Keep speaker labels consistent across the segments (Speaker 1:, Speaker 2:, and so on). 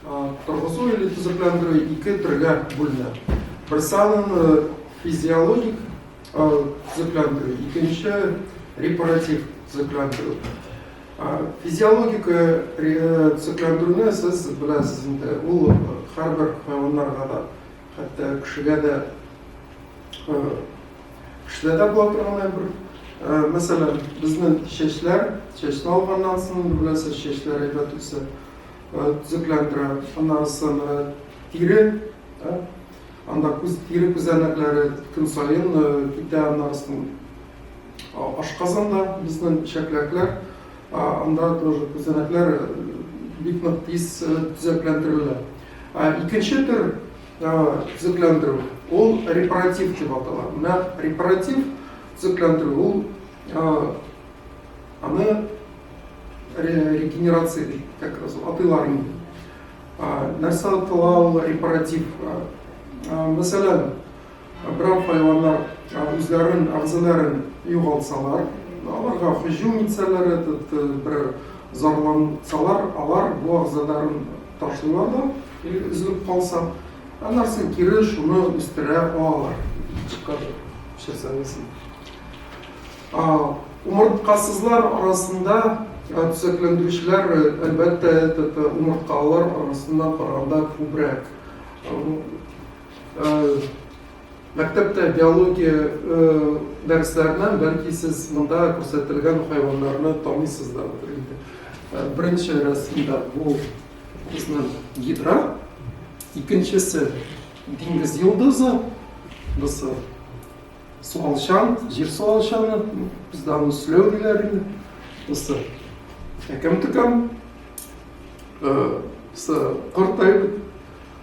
Speaker 1: Торгызу или төзекләндерү ике төргә бүленә. Берсанын э, физиологик төзекләндерү, икенче репаратив төзекләндерү. Физиологик төзекләндерүне сез беләсез инде, ул һәрбер хайваннарга да Хәтта кешегә дә, кешедә дә була торган бер, мәсәлән, безнең чәчләр, чәчне алганнан соң, беләсез, чәчләр әйбәт үсә, төзекләндерә, аннан соң тире, анда күз, тире күзәнәкләре көн саен китә, аннан соң ашказанда безнең чәкләкләр, анда тоже күзәнәкләр бик нык тиз төзекләндерелә. Икенче төр төзекләндерү, ул репаратив дип атала. Менә репаратив төзекләндерү, ул аны регенерация дип как раз атыйлар инде. Нәрсә атала ул репаратив? Мәсәлән, Берәр хайваннар үзләрен, әгъзаларын югалтсалар, аларга һөҗүм итсәләр, бер зарлансалар, алар бу әгъзаларын ташлыйлар да, или өзелеп калса, аннарсын кире шуны үстерә алалар. Чикажа пешерсәңесен. Умырткасызлар арасында төзекләндерүчеләр, әлбәттә, умырткалылар арасына караганда күбрәк. Мәктәптә биология дәресләреннән бәлки сез монда күрсәтелгән хайваннарны таныйсыздыр инде. Беренче рәсемдә бу безнең гидра, икенчесе диңгез йолдызы, бусы суалчан, җир суалчаны, бездә аны сүләү диләр инде. Бусы әкәм-төкәм, бусы корт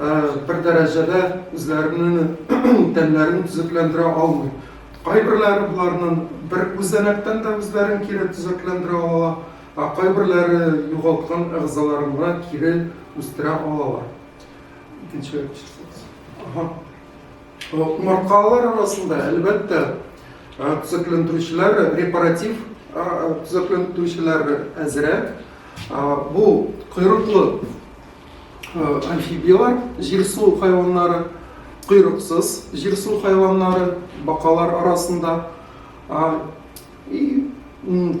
Speaker 1: бер дәрәҗәдә үзләренең тәннәрен төзекләндерә алмый. Кайберләре боларның бер күзәнәктән дә үзләрен кире төзекләндерә ала, ә кайберләре югалткан әгъзаларын гына кире үстерә алалар. Икенче Умырткалар арасында, әлбәттә, төзекләндерүчеләр, репаратив төзекләндерүчеләр әзрәк. Бу койрыклы Амфибиялар, җир суы хайваннары, койрыксыз җир суы хайваннары, бакалар арасында и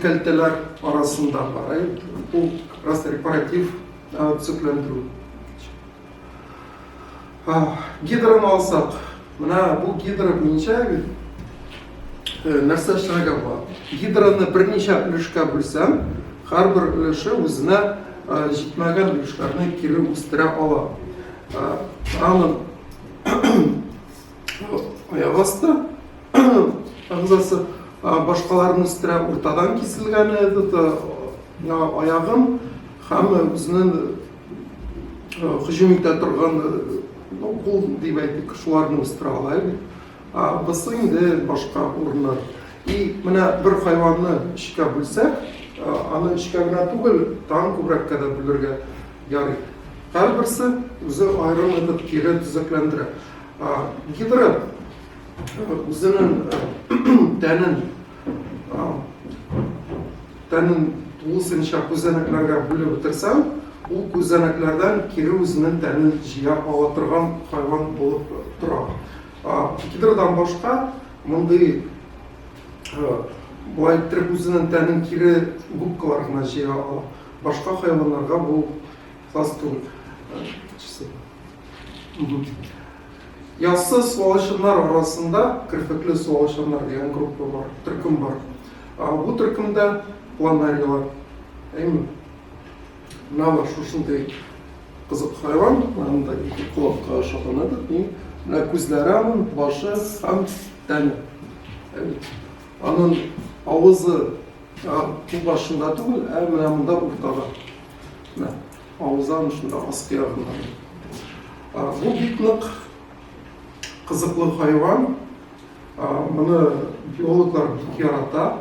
Speaker 1: кәлтәләр арасында бар. Бу рекоратив төзекләндерү. Гидраны алсак, мына бу гидра буенча нәрсә эшләргә була? Гидраны берничә өлешкә бүлсәм, һәрбер өлеше үзенә җитмәгән өлешләрне кире үстерә ала. Аны аяк асты агзасы башкаларын үстерә, уртадан киселгәне аягын һәм үзенең һөҗүм итә торган кул дип әйтик шуларны үстерә ала бит бусы инде башка урыннар и менә бер хайванны өчкә бүлсәк аны өчкә генә түгел тагын күбрәккә дә бүлергә ярый һәрберсе үзе аерым итеп кире төзекләндерә гидра үзенең тәнен Тәнен тулысынча күзәнәкләргә бүлеп бетерсәң, ул күзәнәкләрдән кире үзенең тәнен җыя ала торган хайван булып тора. Гидрдан башка мондый болай иттереп үзенең тәнен кире губкалар гына җыя ала. Башка хайваннарга бу хас түгел. Яссы суалышыннар арасында керфекле суалышыннар дигән группа бар, төркем бар. Бу төркемдә планарилар, әйме, нава шушындай кызык хайван, анда ике колакка ошаган еді, не, мына күзләре аның, башы һәм тәне. Аның авызы бу башында түгел, ә менә монда уртада. Авызан шунда аскы ягыннан. Бу бик нык кызыклы хайван. Моны биологлар бик ярата.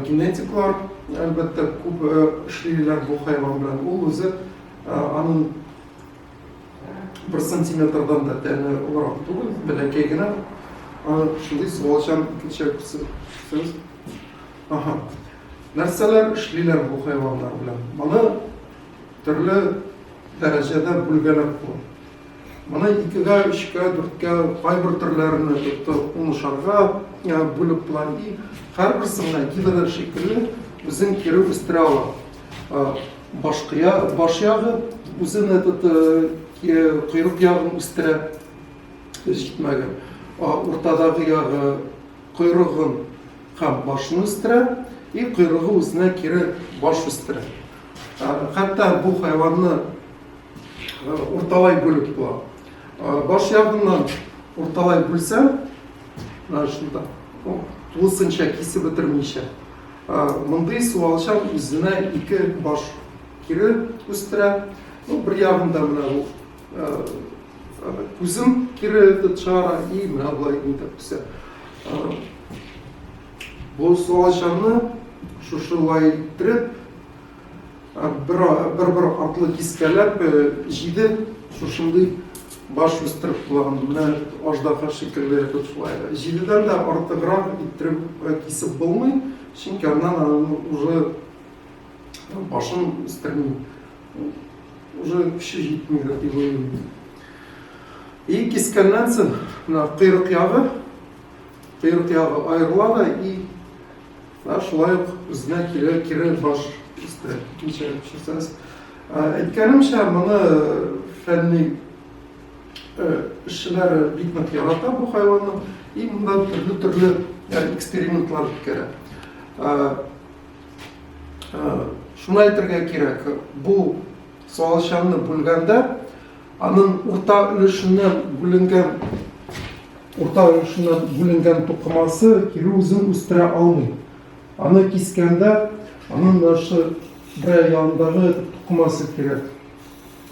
Speaker 1: Генетиклар, әлбәттә, күп эшлиләр бу хайван белән. Ул үзе аның бер сантиметрдан да тәне олырак түгел, бәләкәй генә. Шундый суалчан икенче Аха. Нәрсәләр эшлиләр бу хайваннар белән? Моны төрле дәрәҗәдә бүлгәләп була. Моны икегә, өчкә, дүрткә, кайбер төрләрне тотты унышарга бүлеп була. И һәрберсенә гидра шикелле үзен кире үстерә ала. Башкыя, баш ягы үзен этот койрык ягын үстерә. Җитмәгән. Уртадагы ягы койрыгын һәм башны үстерә, и койрыгы үзенә кире баш үстерә. Хәтта бу хайванны урталай бүлеп була. Баш ягыннан урталай бүлсә, шунда тулысынча кисеп бетермичә, мондый суалчан үзенә ике баш кире үстерә. Ну, бер ягында менә Кузым кире этот шара и мына былай итеп үсә. Бу салачаны шушылай иттереп, бер-бер артлы кискәләп, җиде шушындый баш үстереп кулаган, менә аждаһа шикелле итеп шулай. Җидедән дә артыграк иттереп кисеп булмый, чөнки аннан уже башын үстерми. уже көче җитми дип уйлыйм. И кискәннән соң мына койрык ягы, койрык ягы аерыла да и мына шулай ук үзенә кире кире баш өстә ничә часас. Әйткәнемчә, моны фәнни эшчеләре бик нык ярата бу хайванны и монда төрле-төрле экспериментлар үткәрә. Шуны әйтергә кирәк, бу суалчанны бүлгәндә аның урта өлешеннән бүленгән урта өлешеннән бүленгән тукымасы кире үзен үстерә алмый. Аны кискәндә аның нашы бер ягындагы тукымасы кирәк.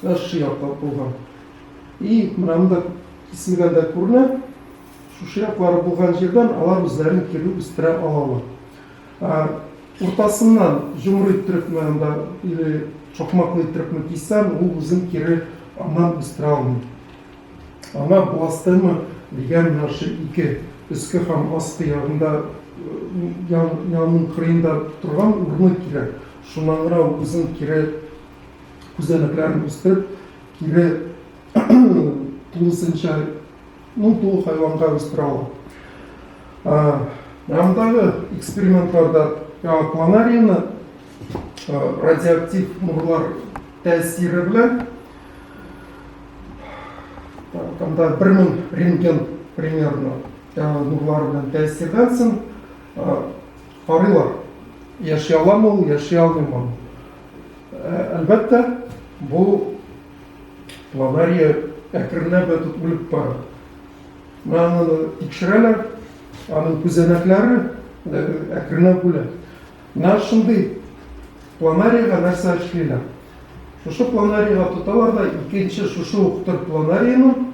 Speaker 1: Нашы яклап булган. И мында киселгәндә күренә, шушы яклары булган җирдән алар үзләрен кире үстерә алалар. Ә уртасыннан җомры иттерепме анда или чокмаклы иттерепме кисәм, ул үзен кире аннан үстерә алмый. Аңа пластема дигән менә шул ике өске һәм аскы ягында янның кырыенда торган урыны кирәк. Шуннан гына ул үзен кире күзәнәкләрен үстереп, кире тулысынча Ну, бу хайванга үстерә ала. Андагы экспериментларда яңа планарияны радиоактив нурлар тәэсире белән анда бер мең рентген примерно нурлары белән тәэсирдән соң карыйлар яши аламы ул яши алмыймы әлбәттә бу Авария әкренләп тә тот үлеп бара. Маны тикшерәләр, аның күзәнәкләре әкренләп үлә. Менә шундый планарига нәрсә эшлиләр? Шушы планарига тоталар да икенче шушы ук төр планариның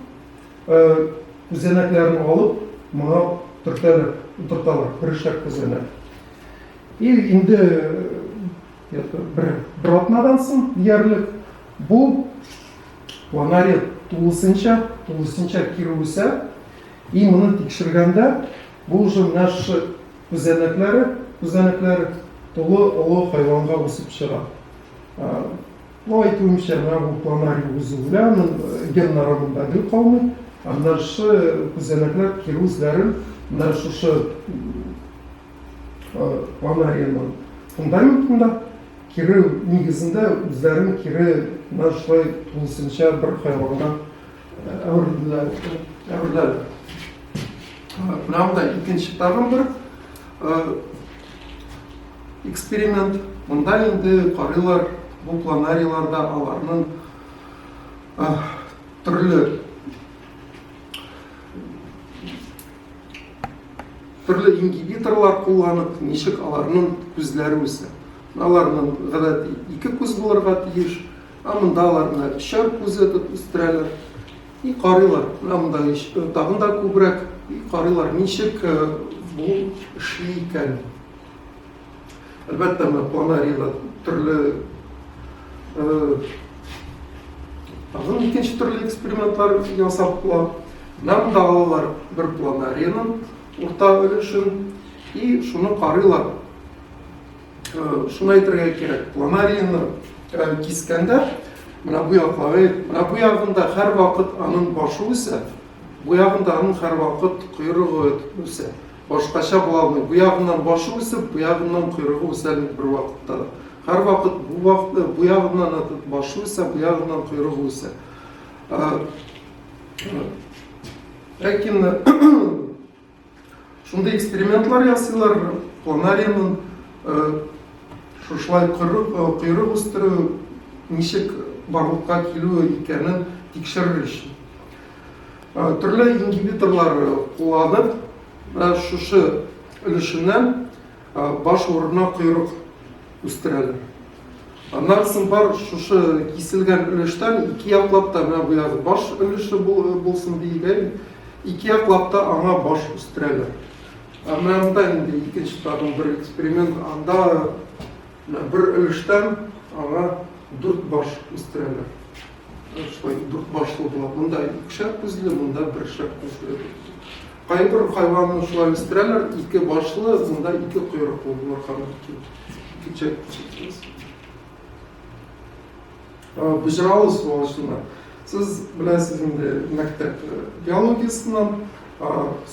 Speaker 1: күзәнәкләрен алып, моңа төртәләр, утырталар, бер шәп күзәнәк. И инде бер, бер атнадан соң диярлек бу ланари тулысынча тулысынча кире үсә и моны тикшергәндә бу уже менә шушы күзәнәкләре күзәнәкләре тулы олы хайванга үсеп чыга ну әйтүемчә менә бу планари үзе белән ген нарымында гел калмый аннары күзәнәкләр кире үзләрен менә шушы ана аренаның фундаментында кире нигезендә үзләрен кире мына шулай тулысынча бер хайванга әверелделәр әвереләр менә монда икенче тагын бер эксперимент монда инде карыйлар бу планариларда аларның төрле Төрле ингибиторлар кулланып, ничек аларның күзләре үсә. Аларның гадәти ике күз булырга тиеш, ә монда аларны өчәр күз итеп үстерәләр. И карыйлар, монда тагын да күбрәк, и карыйлар, ничек бу эшли икән. Әлбәттә, менә планарийда төрле тагын икенче төрле экспериментлар ясап була. Нам алалар бер планарийның урта өлешен и шуны карыйлар. Шуны әйтергә кирәк, планарийны кискәндә менә бу яклары, менә бу ягында һәрвакыт аның башы үсә, бу ягында аның һәрвакыт койрыгы үсә. Башкача була алмый. Бу ягыннан башы үсеп, бу ягыннан койрыгы үсә бит бервакытта да. Һәрвакыт бу вакытта бу ягыннан башы үсә, бу ягыннан койрыгы үсә. Ләкин шундый экспериментлар ясыйлар, планарийның шушылай койрык үстерү ничек барлыкка килү икәнен тикшерер өчен. Э, төрле ингибиторлар кулланып э, шушы өлешеннән э, баш урынына койрык үстерәләр аннан соң бар шушы киселгән өлештән ике яклап та менә бу баш өлеше булсын диелгә ике яклап та аңа баш үстерәләр ә менә монда инде икенче тагын бер эксперимент анда Менә бер өлештән аңа дүрт баш үстерәләр. Шулай дүрт башлы була. Монда икешәр күзле, монда бершәр күзле. Кайбер хайванны шулай үстерәләр, ике башлы, монда ике койрыклы булырга мөмкин. Ике чәк. Бөҗралы суалышында. Сез беләсез инде мәктәп биологиясеннән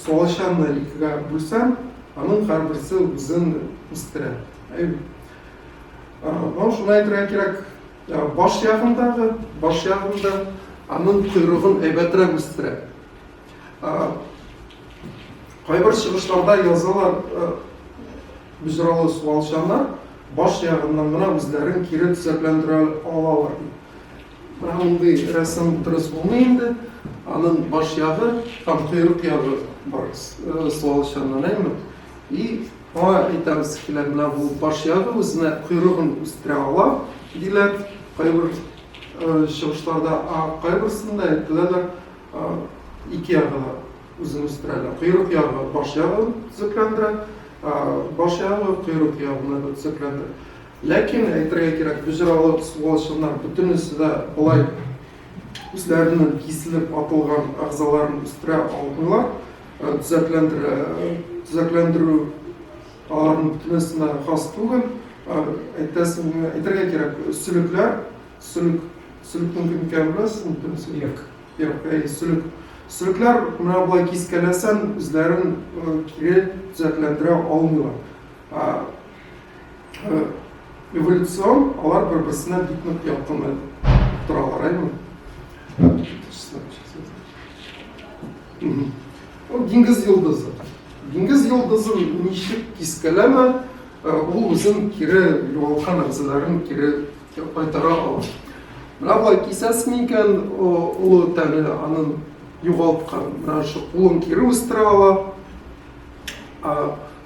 Speaker 1: суалчанны икегә бүлсәм, аның һәрберсе үзен үстерә. Мынау шуны әйтергә кирәк, баш ягындагы, баш ягында аның койрыгын әйбәтрәк үстерә. Кайбер чыгышларда язалар, бөзралы суалчаннар баш ягыннан гына үзләрен кире төзәкләндерә алалар ди. Менә мондый рәсем дөрес булмый инде. Аның баш ягы һәм койрык ягы бар суалчаннан, әйме? И аңа әйтәбез килә, менә бу баш ягы үзенә койрыгын үстерә ала, диләр. Кайбер чыгышларда, кайберсендә әйтеләләр, Ике ягы да үзен үстерәләр. Койрык ягы баш ягын төзекләндерә, баш ягы койрык ягына да төзекләндерә. Ләкин әйтергә кирәк, боҗралы суалчаннар бөтенесе дә болай үзләренең киселеп атылган әгъзаларын үстерә алмыйлар. Төзекләндерә, төзекләндерү аларның бөтенесенә хас түгел. Әйтәсем, әйтергә кирәк, сөлекләр Сөлек. Сөлекнең кем икәнен беләсезме? Теләсә Як. Як, әйе, сөлек. Сөлекләр менә болай кискәләсәң, үзләрен кире төзәкләндерә алмыйлар. Эволюцион алар бер-берсенә бик нык якын торалар, әйеме? Диңгез йолдызы. Диңгез йолдызы ничек кискәләмә, ул үзен кире югалткан әгъзаларын кире Дип кайтара ала. Менә болай кисәсең икән, олы тәне анын югалткан. Менә шу кулын кире үстерә ала.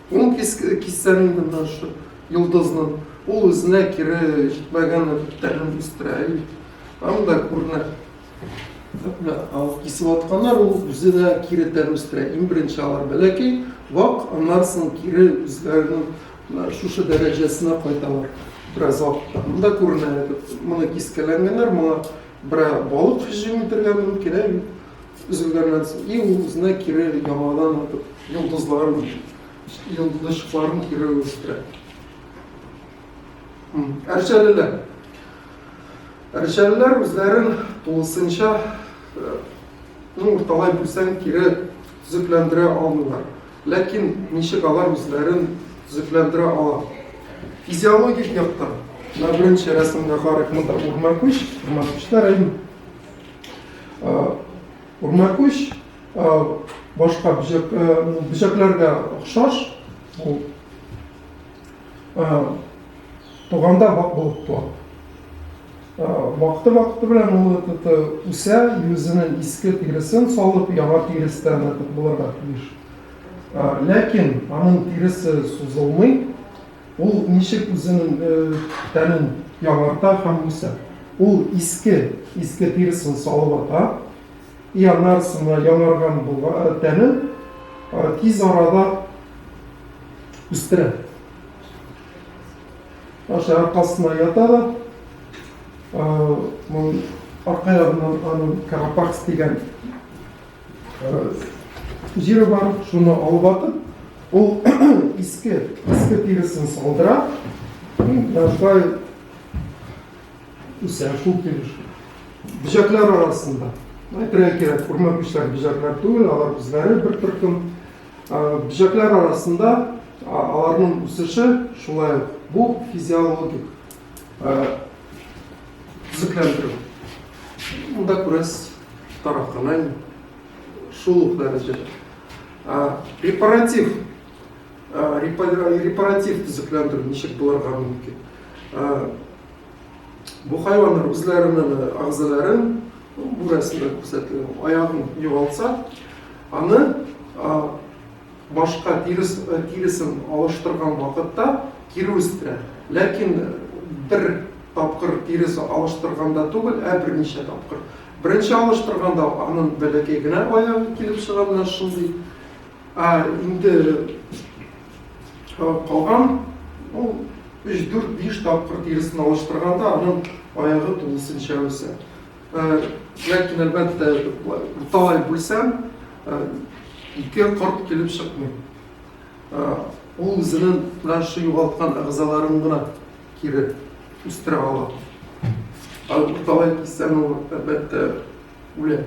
Speaker 1: Кулын киссәң инде менә шу йолдызны ул үзенә кире җитмәгән тәнен үстерә. Анда күренә. Кисеп атканнар ул үзенә кире тән үстерә. Иң беренче алар бәләкәй, вак, аннан соң кире үзләренең Менә шушы дәрәҗәсенә кайталар. Бераз вакытта монда күренә әле, моны кискәләнгәннәр, моңа берәр балык һөҗүм итәргә мөмкин, ә бит өзелгәннән соң и ул үзенә кире яңадан атып, йолдызларын, йолдызчыкларын кире үстерә. Әрҗәлеләр. Әрҗәлеләр үзләрен тулысынча, ну, урталай бүлсәң, кире төзекләндерә алмыйлар. Ләкин ничек алар үзләрен төзекләндерә ала? Физиологик яктан, менә беренче рәсемгә карыйк, монда Урмакүч, Урмакүчтә район. Урмакүч башка бөҗәк, бөҗәкләргә охшаш, ул туганда вак булып туа. Вакыты-вакыты белән ул ытыты үсә, юзенең иске тиресен салып, яңа тирестән ытык булырга тиеш. Ләкин аның тиресе сузылмый, ул ничек үзенең тәнен яңарта һәм үсә? Ул иске, иске тиресен салып ата, и анарсына яңарган булган тәнен тиз арада үстерә. Аша аркасына ята да, арка ягыннан аның карапакс дигән җире бар, шуны алып атып, ул иске, иске тиресен салдыра, шулай үсә, шул килеш. Бөҗәкләр арасында. Әйтергә кирәк, күрмәк бөҗәкләр түгел, алар үзләре бер төркем Бөҗәкләр арасында аларның үсеше шулай ук бу физиологик төзекләндерү. Монда күрәсез тарафынан шул ук дәрәҗәдә. Репаратив репаратив төзекләндерү ничек булырга мөмкин? Бу хайваннар үзләренең агзаларын бу рәсемдә күрсәтелгән аягын югалтса, Аны башка тиресен алыштырган вакытта кире үстерә. Ләкин бер тапкыр тирес алыштырганда түгел, ә берничә тапкыр. Беренче алыштырганда аның бәләкәй генә аягы килеп чыга, менә шундый. Ә инде калган ул өч, дүрт, биш тапкыр тиресен алыштырганда аның аягы тулысынча үсә. Ләкин, әлбәттә, буталай бүлсәм, ике корт килеп чыкмый. Ул үзенең менә шул югалткан әгъзаларын гына кире үстерә ала. Ал буталай киссәң, ул, әлбәттә, үлә.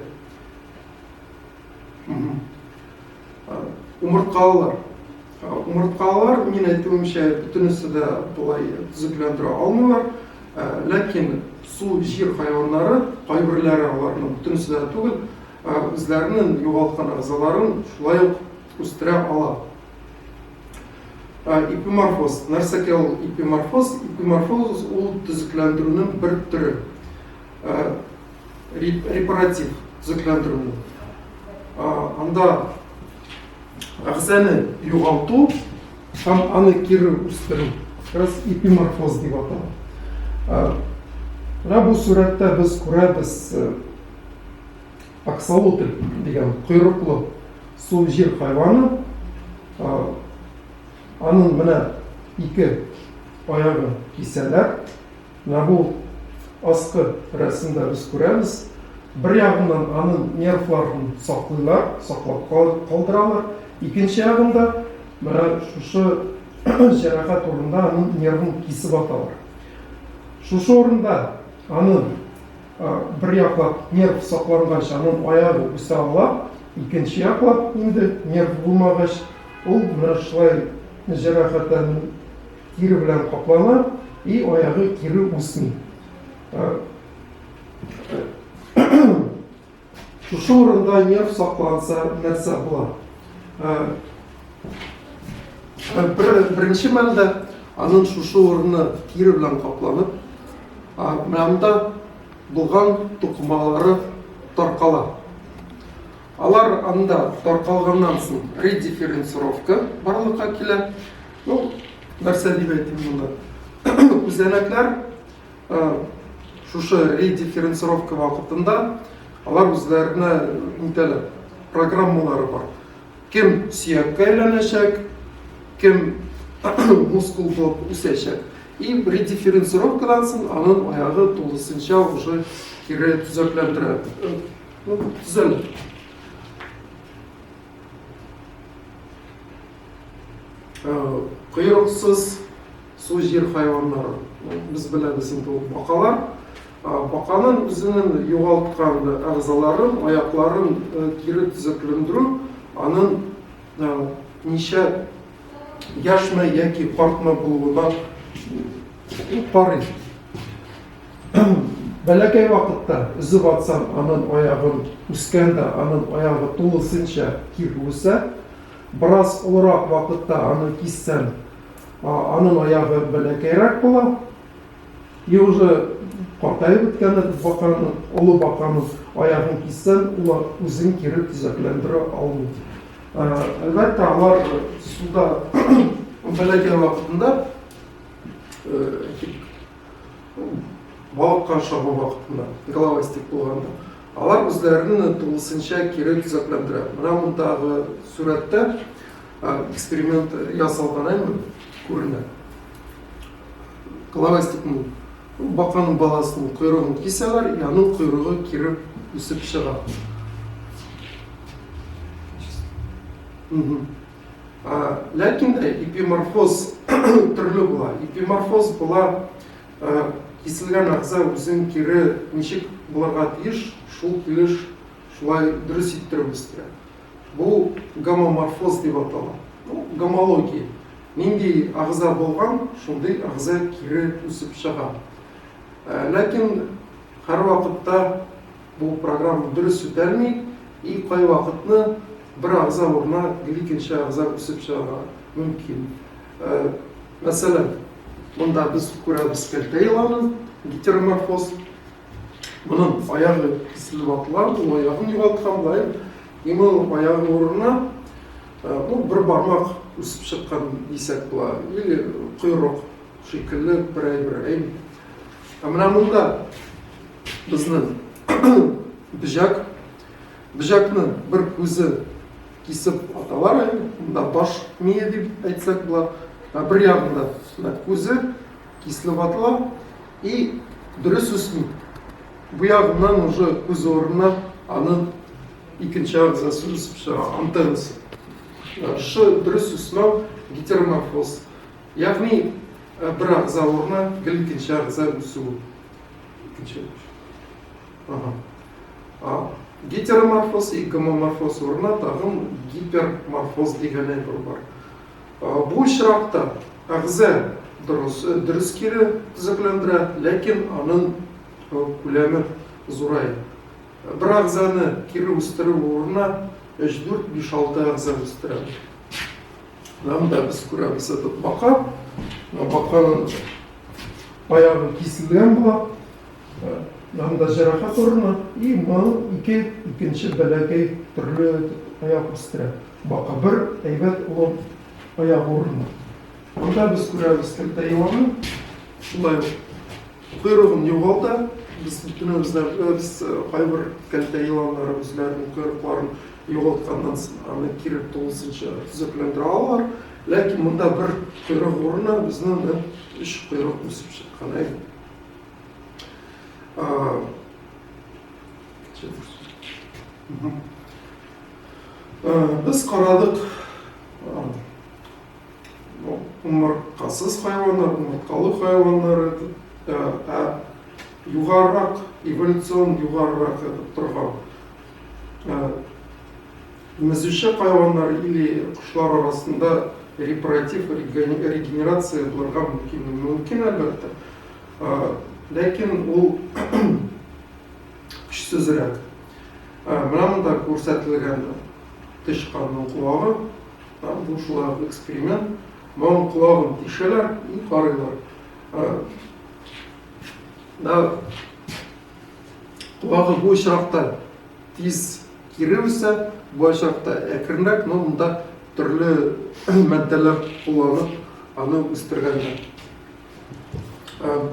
Speaker 1: Умырткалылар. Умырткалар, мин әйтүемчә, бөтенесе дә болай төзекләндерә алмыйлар. Ә, ләкин су, җир хайваннары, кайберләре аларның бөтенесе дә түгел, ә, үзләренең югалткан әгъзаларын шулай ук үстерә ала. Ә, ипиморфоз. Нәрсәкә ул ипиморфоз? Ипиморфоз ул төзекләндерүнең бер төре. Ә, репаратив төзекләндерүнең. Ә, анда әгъзаны югалту һәм аны кире үстерү раз эпиморфоз дип атала менә бу сурәттә без күрәбез аксолотль дигән койрыклы су җир хайваны аның менә ике аягын кисәләр Менә бу аскы рәсемдә без күрәбез, бер ягыннан аның нервларын саклыйлар, саклап калдыралар, икенче ягында менә шушы җәрәхәт урында аның нервын кисеп аталар. Шушы урында аны бер яклап нерв саклангач, аның аягы үсә ала, икенче яклап инде нерв булмагач, ул менә шулай җәрәхәтләнеп Кире белән каплана и аягы кире үсми. Шушы урында нерв сакланса нәрсә була? Бер, беренче мәлдә аның шушы урыны кире белән капланып, менә монда булган тукымалары таркала. Алар анда таркалганнан соң редифференцировка барлыкка килә. Ну, нәрсә дип әйтим монда? Күзәнәкләр шушы редифференцировка вакытында алар үзләренә нитәләр, программалары бар. Кем сөяккә әйләнәчәк, кем мускул булып үсәчәк. И редифференцировкадан соң аның аягы тулысынча уже кире төзекләндерә. Ну, зель. Э, Кыйрыксыз су жир хайваннары. Без беләбез инде ул бакалар. Баканың үзенең югалткан әгъзаларын, аякларын э, кире төзеклендерү, аның э, ничә яшьме яки картмы булуына карый. Бәләкәй вакытта өзеп атсаң, анын аягын үскәндә анын аягы тулысынча кире үсә. Бераз олырак вакытта аны киссән, анын аягы бәләкәйрәк була. И уже картаеп беткәндә без баканы, олы баканы аягын киссән, ул үзен кире төзәкләндерә алмый. Әлбәттә, алар суда бәләкәй вакытында балыкка чабу вакытында, головастик булганда, алар үзләрен тулысынча кире төзекләндерә. Менә мондагы сурәттә эксперимент ясалган әйме күренә. Головастикның баканың баласының койрыгын кисәләр, и аның койрыгы кире үсеп чыга. Ләкин дә эпиморфоз төрле була. Эпиморфоз була киселгән әгъза үзен кире ничек булырга тиеш, шул килеш шулай дөрес иттереп үстерә. Бу гомоморфоз дип атала. Ну, гомология. Нинди әгъза булган, шундый әгъза кире үсеп чыга. Ләкин һәрвакытта Бу программа дөрес үтәлми и кайвакытны бер агза урынына гел икенче агза үсеп чыгарга мөмкин. Мәсәлән, монда без күрәбез кәлтә еланын, гетероморфоз. Моның аягы киселеп атылган, ул аягын югалткан булаем. И моның аягы урынына ну, бер бармак үсеп чыккан дисәк була, или койрык шикелле берәй-берәй Ә менә монда безнең бөҗәк. Бөҗәкне бер күзе кисеп аталар әле. Монда баш мие дип әйтсәк була. Ә бер ягында менә күзе киселеп атыла и дөрес үсми. Бу ягыннан уже күз урынына аның икенче агзасы үсеп чыга, антеннасы. Шы дөрес үсмәү гетероморфоз. Ягъни Э, бир агыза урына гел икенче агыза үсү икенче гетероморфоз и гомоморфоз урына тагын гиперморфоз дигән әйбер бар бу очракта агыза дөрес э, дөрес кире төзекләндерә ләкин аның э, күләме зурая бер агызаны кире үстерү урынына өч дүрт биш алты агыза үстерәбез Нам да без күрәбез этот бака. Баканың баягы киселгән була. Нам да җәрәхәт урыны. И моның ике икенче бәләкәй төрле аяк үстерә. Бака бер әйбәт улым аяк урыны. Анда без күрәбез кертә еланы. Шулай Койрыгын югалта. Без бөтенебездән без кайбер кәлтә еланнары үзләренең койрыкларын югалтканнан соң аны кире тулысынча төзекләндерә алалар. Ләкин монда бер койрык урынына безнең нәкъ өч койрык үсеп чыккан әйе. Без карадык. Умырткасыз хайваннар, умырткалы хайваннар итеп, ә югарырак, эволюцион югарырак итеп торган Мезүче хайваннар или кошлар арасында репаратив регенерация булырга мөмкин. Мөмкин, әлбәттә. Ләкин ул көчсезрәк. Менә монда күрсәтелгән тычканның колагы. Бу шулай ук эксперимент. Моның колагын тишәләр и карыйлар. Да колагы бу очракта тиз кире үсә, бу очракта әкренрәк, но монда төрле матдәләр кулланып аны үстергәннәр.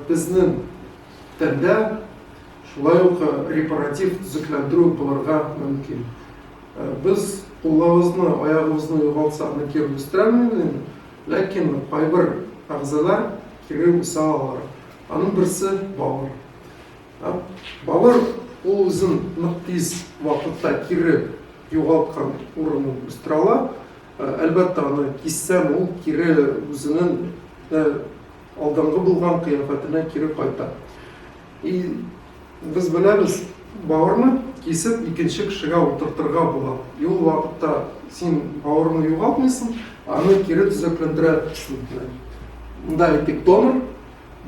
Speaker 1: Безнең тәндә шулай ук репаратив төзекләндерү булырга мөмкин. Без кулларыбызны, аягыбызны югалтсак да кире үстерә алмыйбыз инде, ләкин кайбер әгъзалар кире үсә алалар. Аның берсе, бавыр. Бавыр ул үзен нык тиз вакытта кире югалткан урынын үстерә ала. Әлбәттә, аны киссәң, ул кире үзенең алдынгы булган кыяфәтенә кире кайта. Без беләбез, бавырны кисеп икенче кешегә утыртырга була. И ул вакытта син бавырны югалтмыйсың, аны кире төзекләндерәсең. Монда әйтик донор,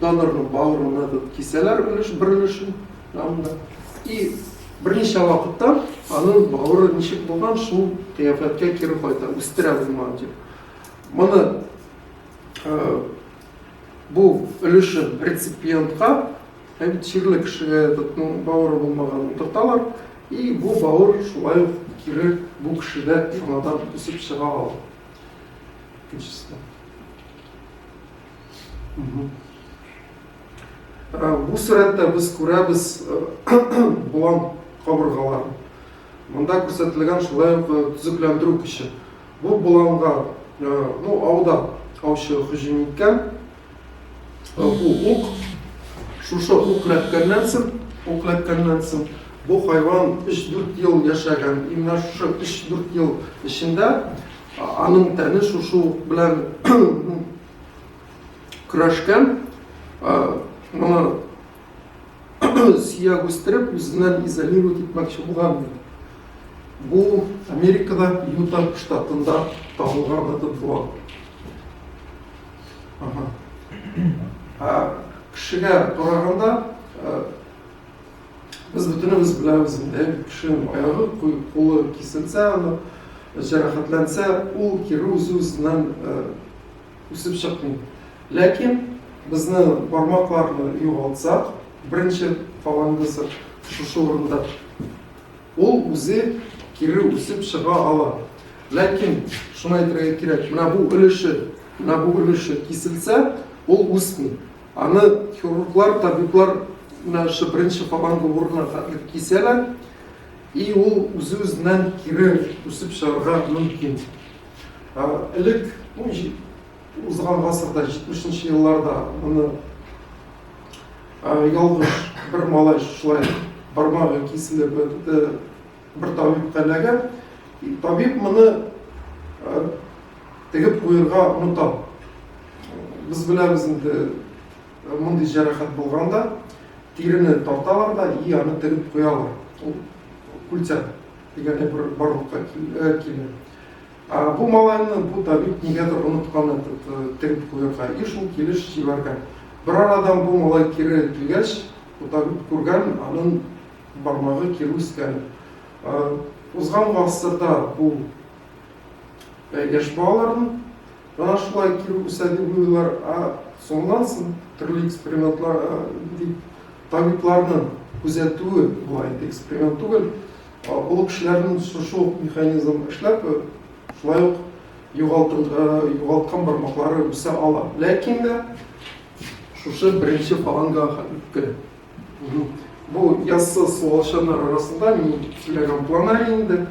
Speaker 1: донорның бавырына тут кисәләр өлеш бер өлешен анда. И берничә вакытта аның бавыры ничек булган шул кыяфәткә кире кайта, үстерә булмаган дип. Моны э, бу өлешен реципиентка Һәм тирле кешегә этның бавыры булмаганын утырталар, и бу бавыр шулай ук кире бу кешедә яңадан үсеп чыга ала. Икенчесенә. Э, бу сурәттә без күрәбез э, болан кабыргаларын. Монда күрсәтелгән шулай ук э, төзекләндерү көче. Бу боланга, ну, ауда аучы һөҗүм иткән, Бу ук шушы ук ләткәннән соң, ук ләткәннән соң бу хайван 3-4 ел яшәгән. И менә шушы 3-4 ел эчендә аның тәне шушы ук белән көрәшкән. Моны сөяк үстереп, үзеннән изолировать итмәкче булган. Бу Америкада Юта штатында табылган этот булган. кешегә караганда без бөтенебез беләбез инде кешенең аягы кулы киселсә аны жарахатланса ул кире үз үзеннән үсеп чыкмый ләкин безне бармакларны югалтсак беренче фалангысы шушы урында Ул үзе кире үсеп чыга ала. Ләкин, шуны әйтергә кирәк, менә бу өлеше, менә бу өлеше киселсә, ул үсми. Аны хирурглар, табиблар менә шушы беренче фаланга урынына хәтле кисәләр, и ул үзе-үзеннән кире үсеп чыгарга мөмкин. Элек, ну, Узган гасырда, 70 нче елларда моны ялгыш бер малай шулай бармагы киселеп бетте, бер табиб кәләгән. Табиб моны тегеп куерга оныта. Без беләбез инде мондый җәрәхәт булганда тирене тарталар да и аны тегеп куялар. Ул күлтәк дигән бер барлыкка килә. Ә бу малайны бу табиб нигәдер оныткан этот, э, тегеп куярга и шул килеш җибәргән. Бер арадан бу малай кире килгәч, бу табиб күргән, аның бармагы кире үскән. Э, Узган гасырда бу э, яшь балаларның ана шулай кире үсә дип уйлыйлар, а соңыннан соң төрле экспериментлар, э, дип, табибларның күзәтүе була инде, эксперимент түгел, Акыллы кешеләрнең шушы ук механизм эшләп, шулай ук югалткан бармаклары үсә ала. Ләкин дә шушы беренче фаланга үтте. Бу яссы суалчаннар арасында мин сөйләгән планарий инде.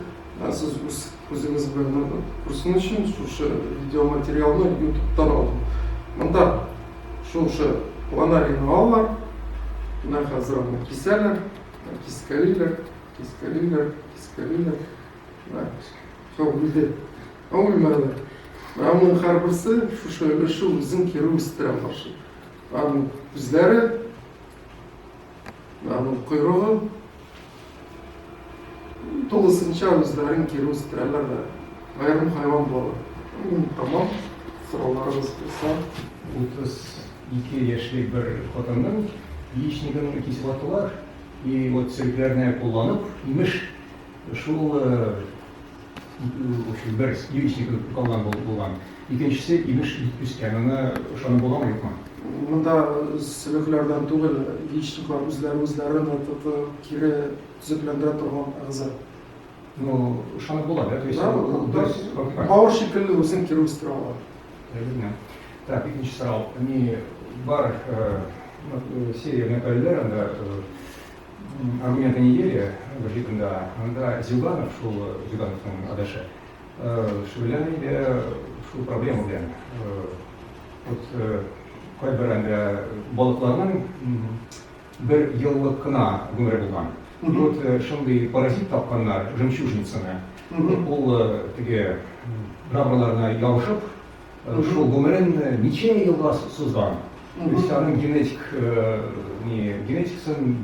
Speaker 1: Сез үз күзегез белән күрсен өчен шушы видеоматериалны ютубтан алдым. Монда шушы планарийны алалар. Менә хәзер аны кисәләр. Кискәлиләр, кискәлиләр, кискәлиләр. Менә шул бүлде. Аңлый мәгәнә. Менә моның һәрберсе шушы өлеше үзен кире үстерә каршы. Аның күзләре, аның койрыгы тулысынча үзләрен кире үстерәләр дә. Аерым хайван булалар. М, Тамам. Сорауларыбыз булса, утыз.
Speaker 2: Ике яшьлек бер хатынның яичнигын кисеваттылар и вот сөлекләрне кулланып, имеш, шул общем бер яичник калган булган, икенчесе, имеш, бик песка, моны ышанып буламы, юкмы? Монда
Speaker 1: сөлекләрдән түгел, яичниклар үзләре үзләрен кире төзекләндерә торган әгъза. Ну,
Speaker 2: ышанып була, да? То есть,
Speaker 1: бавыр шикелле үзен кире үстерә ала. Әйе генә. Так, икенче
Speaker 2: сорау. Ни бар серия мәкаләләр анда аргументы недели гәҗитендә анда Зюганов, шул Зюгановның адашы, шул белән инде шул проблема белән. Вот кайбер анда балыкларның бер еллык кына гомере булган. Вот шундый паразит тапканнар, жемчужницаны. Ул теге жабраларына ябышып, Шул гомерен ничә еллар сузган. Христианның генетик генетикасын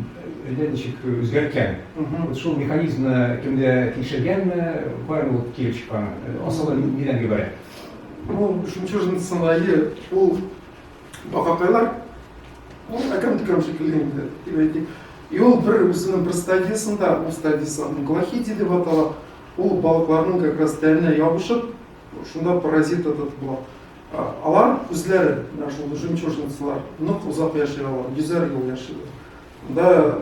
Speaker 2: әллә ничек үзгәрткән. Вот шул механизмны кемдә тикшергәнме, барыбер ул килеп чыккан. Асылы нидән гыйбарәт? Ну,
Speaker 1: жемчужницаның ае ул бакакайлар. Ул әкрен-төкрен шикелле инде, дип әйтик. И ул бер үзенең бер стадиясендә, ул стадиясе англохиди дип атала, ул балыкларның как раз тәненә ябышып, Шунда паразит этот була. Алар үзләре, менә шул жемчужницалар, нык озак яши алар, йөзәр ел яшиләр. Анда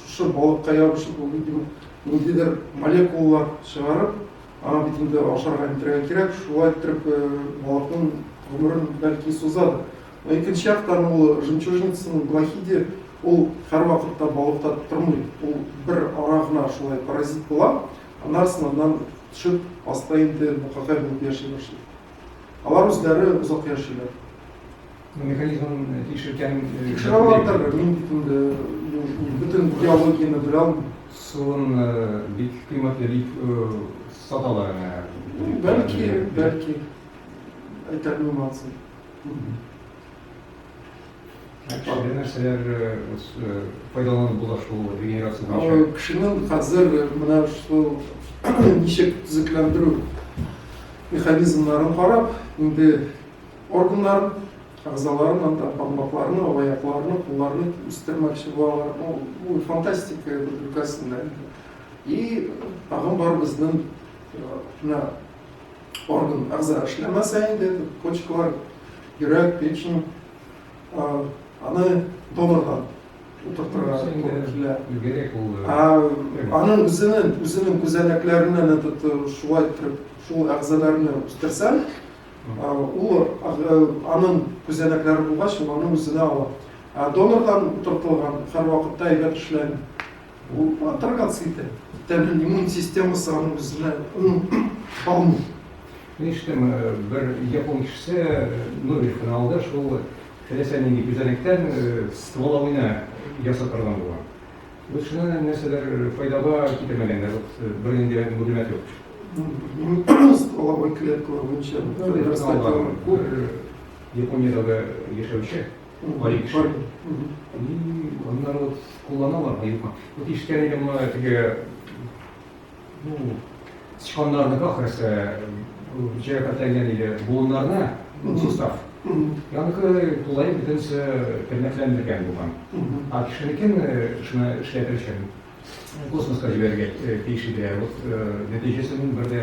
Speaker 1: шушы балыкка ябышып, бу бит инде ниндидер молекулалар чыгарып, аңа бит инде ашарга итәргә кирәк, шулай иттереп балыкның гомерен бәлки сузадыр. Но икенче яктан ул жемчужницаның глахиде ул һәрвакытта балыкта тормый. Ул бер ара гына шулай паразит була, Аннары сынаудан төшеп, аста инде букакай булып яши башлый. Алар үзләре озак яшиләр.
Speaker 2: Механизмын тикшерткән. Тикшерә алатырбы,
Speaker 1: мин бит инде бөтен биологияне белә алмыйм. Суын
Speaker 2: бик кыйммәтле дип саталар аны. Бәлки,
Speaker 1: бәлки. Әйтә белмәссең.
Speaker 2: Әле нәрсәләр файдаланып була шул регенерация буенча? Кешенең хәзер
Speaker 1: менә шул ничек төзекләндерү механизмнарын карап, инде органнар әгъзаларын, анда бармакларны, аякларны, кулларны үстермәкче булалар. Бу фантастика өлкәсендә. И тагын бар безнең орган әгъза эшләмәсә инде, почкалар, йөрәк, печень, аны донорга утыртырга кирәкле.
Speaker 2: Аның
Speaker 1: үзенең үзенең күзәнәкләреннән этот шулай итеп, шул әгъзаларны үстерсәң, ул аның күзәнәкләре булгач, ул аны үзенә ала. Донордан утыртылган һәрвакытта әйбәт эшләми. Бу отраганцы итеп, тәннең иммун системасы аны үзенә алмый.
Speaker 2: Ништем, бер япон кешесе Нобелевканы алды, шул теләсә нинди күзәнәктән стволовыйны ясап торган булган. Без шуны нәрсәдер файдага китермәгәннәр, бер нинди мәгълүмат юк. Стволовой
Speaker 1: клеткалар буенча файдага китермәгән.
Speaker 2: Япониядә яшәүче Барик, шулай. Аннары вот кулланалар, юкмы? Вот ишеткән идем моны теге, ну, сычканнарныкы ахрысы, җәя катәлгән иде, буыннарны, сустав. Яныкы тулай бөтенесе тернәкләндергән булган. А кешенекен шуны эшләтер өчен космоска җибәрергә тиеш иде. Вот нәтиҗәсен бер дә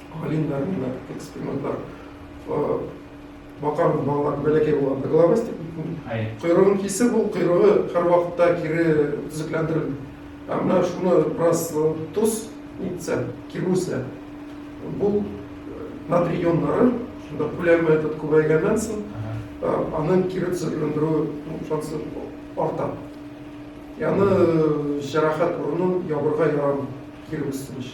Speaker 1: Галимнәр менә экспериментлар бакар балалар бәләкәй булганда головастик койрыгын кисеп ул койрыгы һәрвакытта кире төзекләндерелми ә менә шуны бераз тоз нитсә кибүсә бул натрий ионнары шунда күләме этот күбәйгәннән соң аның кире төзекләндерү шансы арта яны җәрәхәт урынын ябырга ярамый кире үсенеш